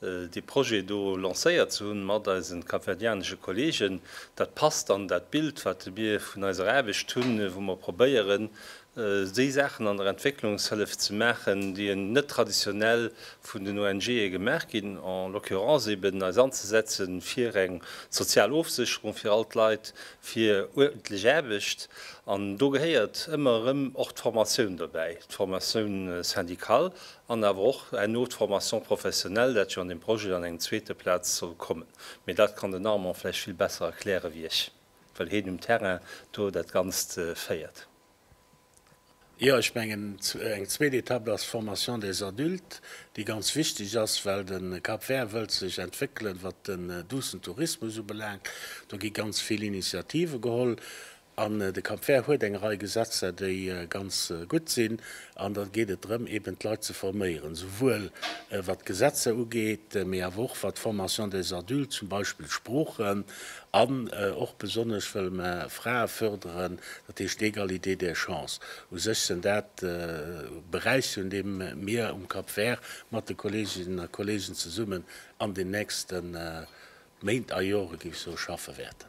dee Projet do lancéiert ze hunn mat eisen kapverdianesche Kollegen. Dat passt an dat Bild, wat mir vun eiser Aarbecht hunn, wou mer probéieren, déi Saachen an der Entwécklungshëllef ze maachen, déi net traditionell vun den ONGe gemaach ginn, en l'occurrence eben eis anzesetze fir eng sozial Ofsécherung fir all d'Leit, fir uerdentlech Aarbecht. An do gehéiert ëmmer erëm och d'Formatioun dobäi, d'Formatioun syndicale An awer och herno d'Formation professionnelle, dat jo an deem Projet an engem zweete Plaz soll kommen. Mee dat kann den Armand vläicht vill besser erkläre wéi ech, well heen um Terrain do dat Ganzt féiert. Jo, ech mengen, eng zweet Etapp ass d'Formation des adultes, déi ganz wichteg ass, well de Cap Vert wëllt sech entwéckelen, wat den duussen Tourismus ubelaangt. Do gi ganz vill Initiative geholl. An de Camp vert huet eng Rei Gesetzer, déi ganz gutt sinn. An da geet et drëm, eben d'Leit ze forméieren, esouwuel wat d'Gesetzer ugeet, mee awer och wat d'Formation des adultes, zum Beispill d'Sproochen, an och besonnesch wëlle mer Frae förderen, dat heescht d'Égalité des chances. U sech sënn dat Beräicher, un deem mir um Cap vert mat de Kolleeginnen a Kolleegen zesummen an den nächste Méint a Jore, géif ech soen, schaffe wäerten.